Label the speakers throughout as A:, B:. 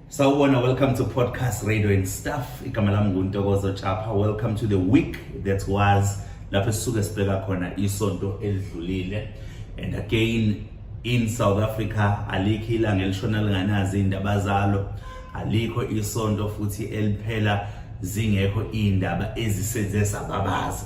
A: Sawubona, welcome to Podcast Radio and Stuff. Igama lami nguNtokozo Chapha. Welcome to the week that was lapho sisuke sibheka khona isonto elidlulile. And again in South Africa alikho ilanga elishona linganazi indaba zalo. Alikho isonto futhi eliphela zingekho indaba ezisenze sababaza.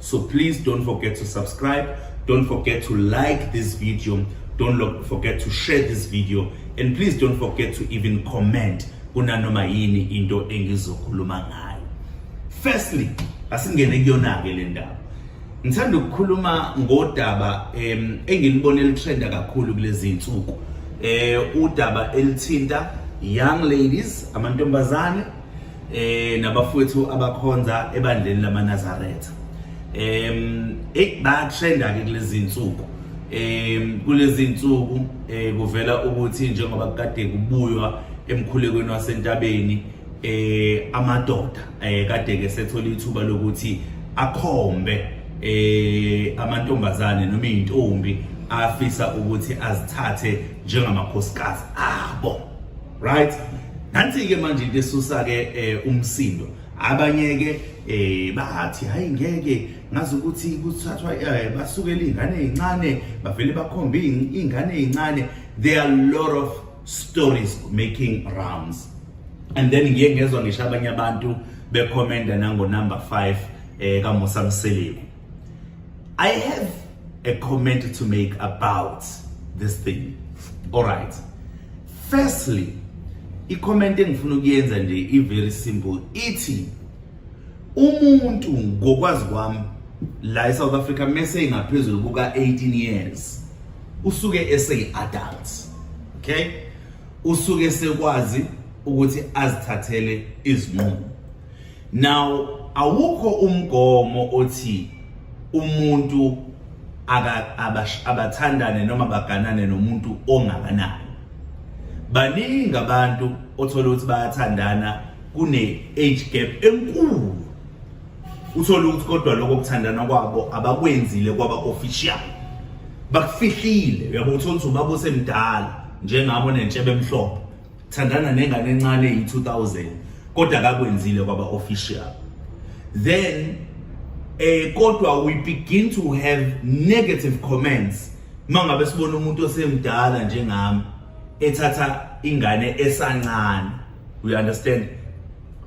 A: So please don't forget to subscribe, don't forget to like this video, don't look, forget to share this video and please don't forget to even comment kunanoma yini into engizokhuluma ngayo. Firstly, asingene kuyona ke le ndaba. Ngithanda ukukhuluma ngodaba em engilibona elitrenda kakhulu kulezi insuku. Eh udaba elithinta young ladies amantombazane eh nabafowethu abakhonza ebandleni lamaNazaretha em eh bayatrenda ke kulezi insuku em kulezi insuku eh kuvela ukuthi njengoba kade kubuywa emkhulekweni wasentabeni eh amadoda eh kade ke sethola ithuba lokuthi akhombe eh amantombazane noma izintombi afisa ukuthi azithathe njengamakhosikazi abo right nansi ke manje into esusa ke eh, umsindo abanye ke eh bathi hayi ngeke ngazi ukuthi kuthathwa eh, basukela ingane ezincane bavele bakhombe ingane ezincane there are a lot of stories making rounds and then ngiye ngezwa ngisho abanye abantu bekhomenda nango number 5 eh kaMusa Mseleku I have a comment to make about this thing all right Firstly, i-comment engifuna ukuyenza nje i-very simple ithi umuntu ngokwazi kwami la e-South Africa mese ingaphezulu kuka-18 years usuke eseyi-adult okay usuke sekwazi ukuthi azithathele izinqumo Now awukho umgomo othi umuntu abathandane noma baganane nomuntu ongakanani baningi abantu othola ukuthi bayathandana kune age gap enkulu uthola ukuthi kodwa lokho kuthandana kwabo abakwenzile kwaba official bakufihlile uyabo uthola ukuthi ubaba osemdala njengabo nentshebe emhlophe thandana nengane encane eyi-2000 kodwa kakwenzile kwaba official then eh kodwa we begin to have negative comments mangabe sibona umuntu osemdala njengami ethatha ingane esancane we understand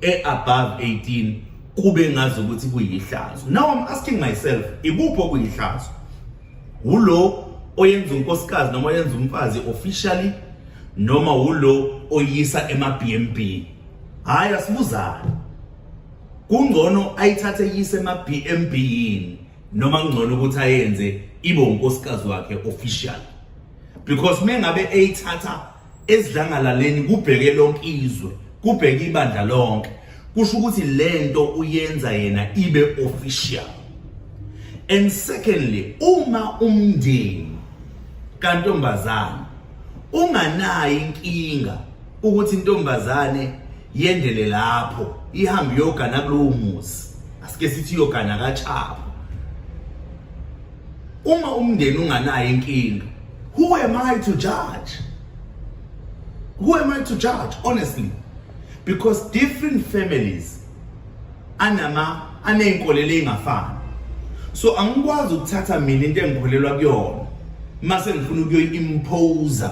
A: e above 18 kube ngazi ukuthi kuyihlazo now i'm asking myself ikuphi okuyihlazo wulo oyenza unkosikazi noma oyenza umfazi officially noma wulo oyisa ema-bnb hhayi asibuzane kungcono ayithathe yise ema-bnb yini noma kungcono ukuthi ayenze ibe unkosikazi wakhe official because mengabe eyithatha esidlangalaleni kubheke lonke izwe kubheke ibandla lonke kusho ukuthi lento uyenza yena ibe official and secondly uma umndeni kantombazana unganayo inkinga ukuthi intombazane yendele lapho ihambe yogana kulowo muzi asike sithi yogana kaChapho uma umndeni unganayo inkinga who am i to judge who am i to judge honestly because different families anama aneyinkolelo ezingafani so angikwazi ukuthatha mina into engikholelwa kuyona mase ngifuna ukuyoyimpose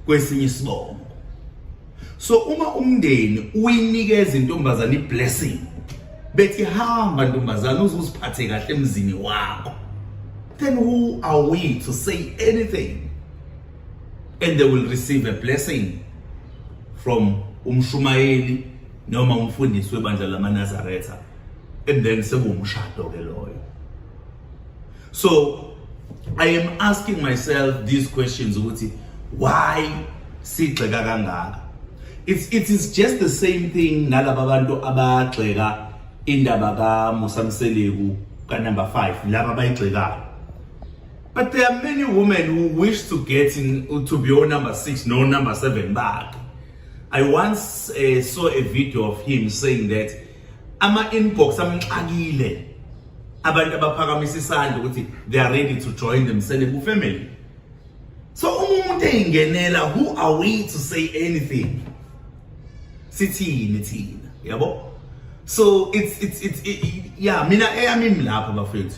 A: kwesinye isibongo so uma umndeni uyinikeza intombazane iblessing bethi hamba ntombazane uzuziphathe kahle emzini wakho then who are we to say anything and they will receive a blessing from umshumayeli noma umfundisi webandla lamanazaretha and then sekuwumshado ke loyo so I am asking myself these questions ukuthi why sigxeka kangaka it's it is just the same thing nalaba bantu abagxeka indaba ka Musa Mseleku ka number 5 laba bayigxekayo but there are many women who wish to get in to be on number 6 no number 7 back I once uh, saw a video of him saying that ama inbox amxakile abantu abaphakamisa isandla ukuthi they are ready to join the Mseleku family so uma umuntu eyingenela who are we to say anything sithini thina yabo so it's it's it's it, yeah mina eyami lapha bafethu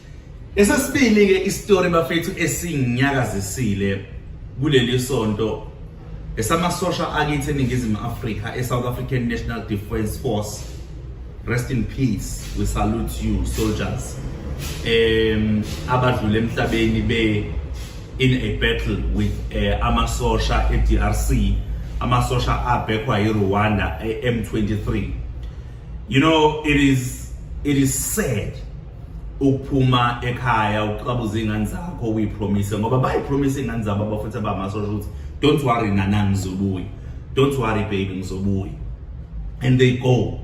A: Esesibili ke istory bafethu esinyakazisile kuleli sonto esamasosha akithi eningizimu Afrika eSouth African National Defence Force rest in peace we salute you soldiers um abadlule emhlabeni be in a battle with uh, amasosha eDRC amasosha abhekwa yiRwanda e-M23 you know it is it is sad ukuphuma ekhaya uqabuza iy'ngane zakho uyipromise ngoba bayipromise iy'ngane zabo abafuthi abamasosha ukuthi don't worry nana ngizobuya don't worry baby ngizobuya and they go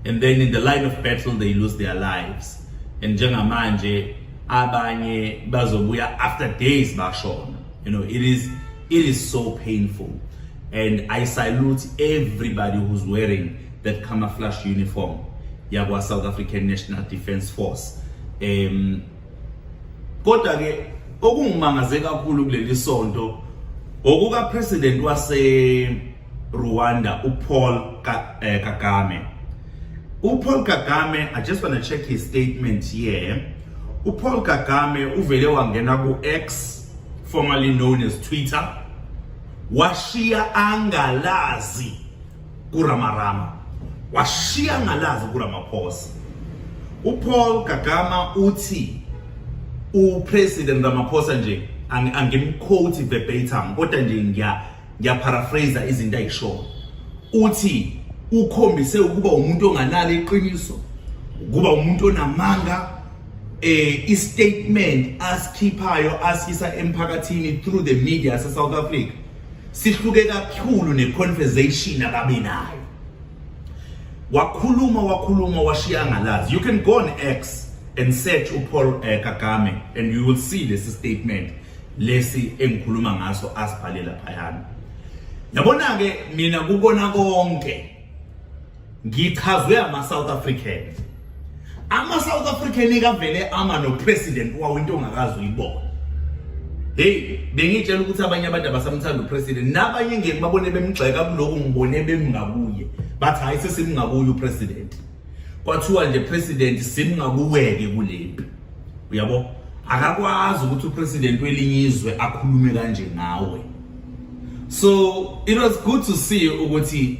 A: and then in the line of battle they lose their lives and njengamanje abanye bazobuya after days bashona you know it is it is so painful and i salute everybody who's wearing that camouflage uniform yakwa South African National Defence Force em kodwa ke okungimangaze kakhulu kuleli sonto okuka president wase Rwanda uPaul eh, Kagame uPaul Kagame I just want to check his statement here uPaul Kagame uvele wangena ku X formerly known as Twitter washiya angalazi kuRamarama washiya ngalazi kuRamaphosa uPaul Kagama uthi uPresident Ramaphosa nje angimquote verbatim kodwa nje ngiya ngiyaparaphrase izinto ayishoyo uthi ukhombise ukuba umuntu onganalo iqiniso ukuba umuntu onamanga eh istatement asikhiphayo asisa emphakathini through the media se South Africa sihluke kakhulu neconversation ababe nayo wakhuluma wakhuluma washiya ngalazi you can go on x and search upaul uh, kagame and you will see lesi statement lesi engikhuluma ngaso asibhalela phayana yabona-ke mina kukona konke ngichazwe ama-south african ama-south african ikavele ama nopresident wawo into ongakazi uyibona heyi bengitshela ukuthi abanye abantu abasamthanda upresident nabanye ngeke babone bemgxeka kuloku ngibone bemngakuye bathi hhayi sesimngakuye upresident kwathiwa nje president simngakuweke kule mpi uyabo akakwazi ukuthi upresident welinye izwe akhulume kanje ngawe so it was good to see ukuthi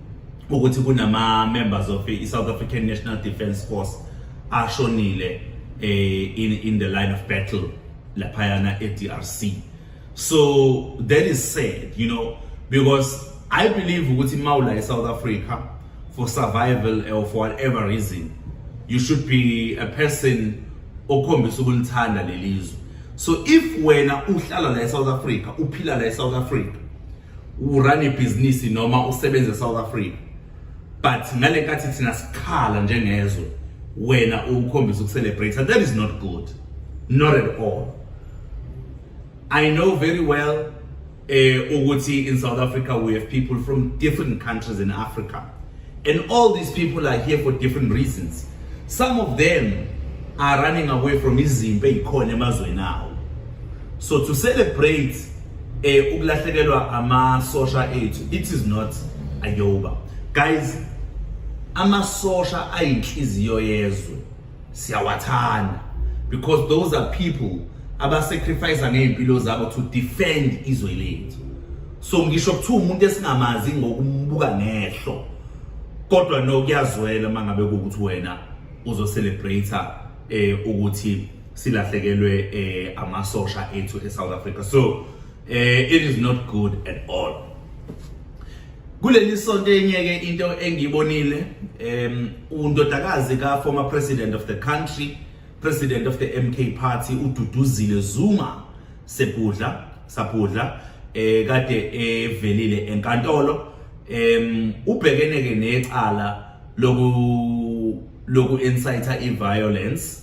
A: ukuthi kunama members of i South African National Defence Force ashonile eh, in in the line of battle laphayana eDRC so that is sad you know because i believe ukuthi mawula eSouth Africa for survival or for whatever reason you should be a person okhombisa ukulithanda lelizwe so if wena uhlala la eSouth Africa uphila la eSouth Africa urun ibhizinisi noma usebenze eSouth Africa but ngale nkathi thina sikhala njengezwe wena ukukhombisa ukucelebrate that is not good not at all i know very well eh ukuthi in south africa we have people from different countries in africa and all these people are here for different reasons some of them are running away from izimpi ezikhona emazweni awo so to celebrate eh ukulahlekelwa amasosha ethu it is not ayoba guys amasosha ayinhliziyo yezwe siyawathanda because those are people abasacrifice ngey'mpilo zabo to defend izwe lethu so ngisho kuthiwa umuntu esingamazi ngokumbuka ngehlo kodwa no kuyazwela uma ngabe kuwukuthi wena uzocelebrate eh ukuthi silahlekelwe eh amasosha ethu eSouth Africa so eh it is not good at all kuleli sonto enyeke into engiyibonile um undodakazi ka former president of the country president of the MK party ududuzile Zuma sebudla sabudla eh kade evelile enkantolo em ubhekene ke necala loku loku inciter i violence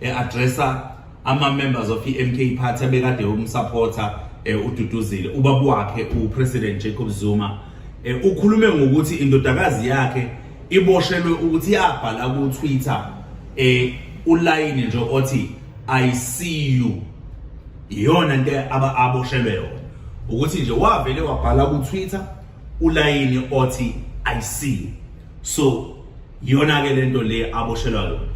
A: e-addressa ama-members of i-mk party abekade umsupporter um eh, ududuzile ubaba wakhe upresident jacob zuma um ukhulume ngokuthi indodakazi yakhe iboshelwe ukuthi yabhala ku-twitter um ulayini nje othi i see you iyona nto aboshelwe yona ukuthi nje wavele wabhala ku-twitter ulayini othi i see you so Iyona-ke le nto le aboshelwa yona.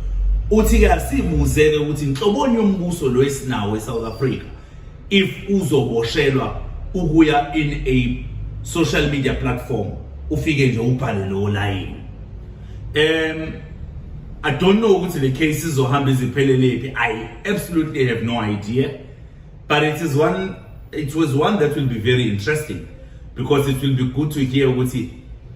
A: Uthi-ke asibuze-ke ukuthi nhloboni yombuso lo esinawo eSouth Africa if uzoboshelwa ukuya in a social media platform ufike nje ubhale lowo layini. Um I don't know ukuthi le case izohamba izipheleliphi. I absolutely have no idea. But it is one it was one that will be very interesting because it will be good to hear ukuthi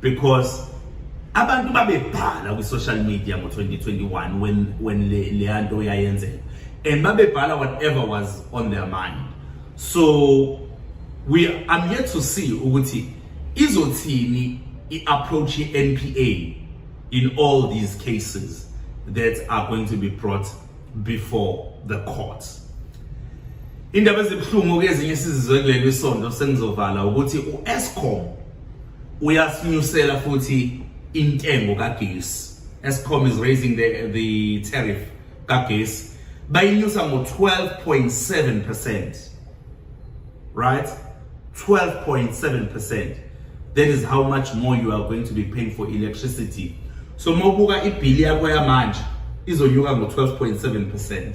A: because abantu babebhala kwi social media ngo 2021 when when le leyanto yayenzeka and babebhala whatever was on their mind so we I'm yet to see ukuthi izothini i approach i NPA in all these cases that are going to be brought before the courts indaba ezibuhlungu kezinye sizizwe kuleli isonto sengizovala ukuthi uEscom uyasinyusela futhi intengo kagesi Escom is raising the the tariff kagesi bayinyusa ngo 12.7% right 12.7% that is how much more you are going to be paying for electricity so mawubuka ibhili yakho yamanje izonyuka ngo-12.7%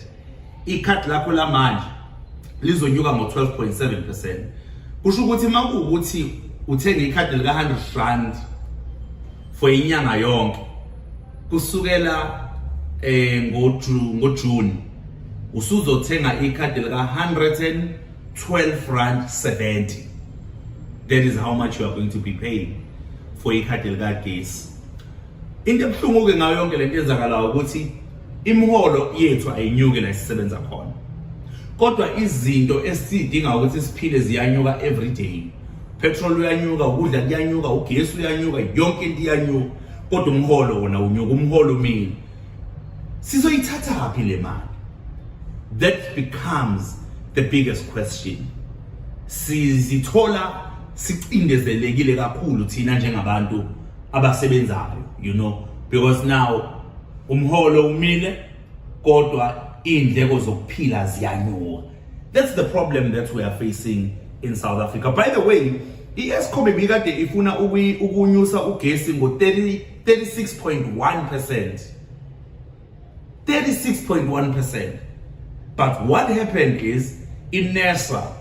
A: ikhadi lakho lamanje lizonyuka ngo-12.7% kusho ukuthi uma kuwukuthi uthenge ikhadi lika-100 rand for inyanga yonke kusukela eh ngojuni usuzothenga ikhadi lika 100 12 rand 70 that is how much you are going to be paying for ikhadi likagesi into ebuhlungu-ke ngayo yonke le nto enzakalayo ukuthi imiholo yethu ayinyuki la sisebenza khona kodwa izinto esidinga ukuthi siphile ziyanyuka every day petrol uyanyuka ukudla kuyanyuka ugesi uyanyuka yonke into iyanyuka kodwa umholo wona unyuka umholo umile sizoyithathaphi le mali that becomes the biggest question sizithola sicindezelekile kakhulu thina njengabantu abasebenzayo you know because now umholo umile kodwa indleko zokuphila ziyanyuka that's the problem that we are facing in South Africa by the way i-Eskom ibikade ifuna ukunyusa ugesi ngo-30 36.1%. 36.1%. But what happened is in NERSA,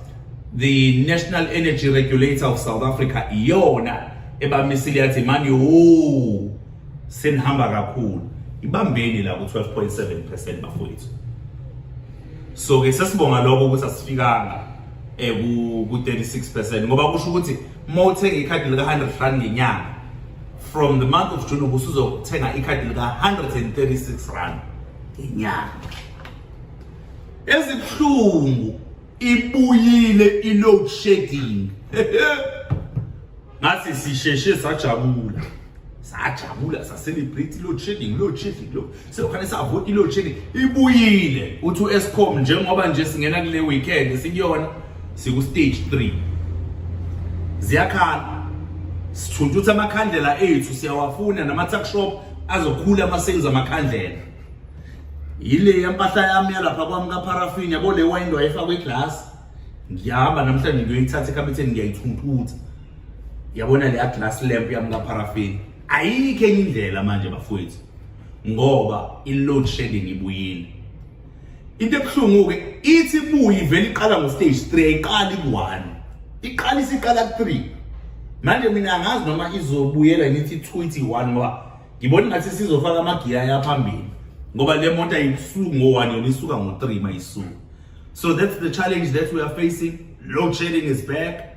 A: the National Energy Regulator of South Africa, iyona ebamisile yathi manje wo senihamba kakhulu. Ibambeni la ku-12.7% bafowethu. So ke sesibonga lokho ukuthi asifikanga eh ku-36% ngoba kusho ukuthi uma uthenga ikhadi lika-100 rand ngenyanga from the month of June ubusuzothenga ikhadi lika 136 rand ngenyanga ezibuhlungu ibuyile i-load shedding ngathi sisheshe sajabula sajabula sacelebrate i-load shedding load shedding lo sekufanele savota iload shedding ibuyile uthi u-escom njengoba nje singena kule weekend sikuyona siku-stage three ziyakhala sithuntutha amakhandlela ethu siyawafuna nama-tuckshop azokhula ama-sales amakhandlela yile yampahla yami yalapha kwami kaparafin yabo le wayini wayefakwa iglasi ngiyahamba namhlanje ngiyoyithatha ekhabetheni ngiyayithuntutha yabona leya glass lamp yami kaparafin ayikho enye indlela manje bafowethu ngoba i-load shedding ibuyile into ebuhlungu-ke ithi ibuye ivele iqala ngo-stage three ayiqali ku-one iqala isiqala ku-three manje mina angazi noma izobuyela ngithi two ithi one ngoba ngibona ngathi sizofaka amagiya yaphambili ngoba le moto ayisuki ngo-one yona isuka ngo-three mayisuka so that's the challenge that we are facing load shedding is back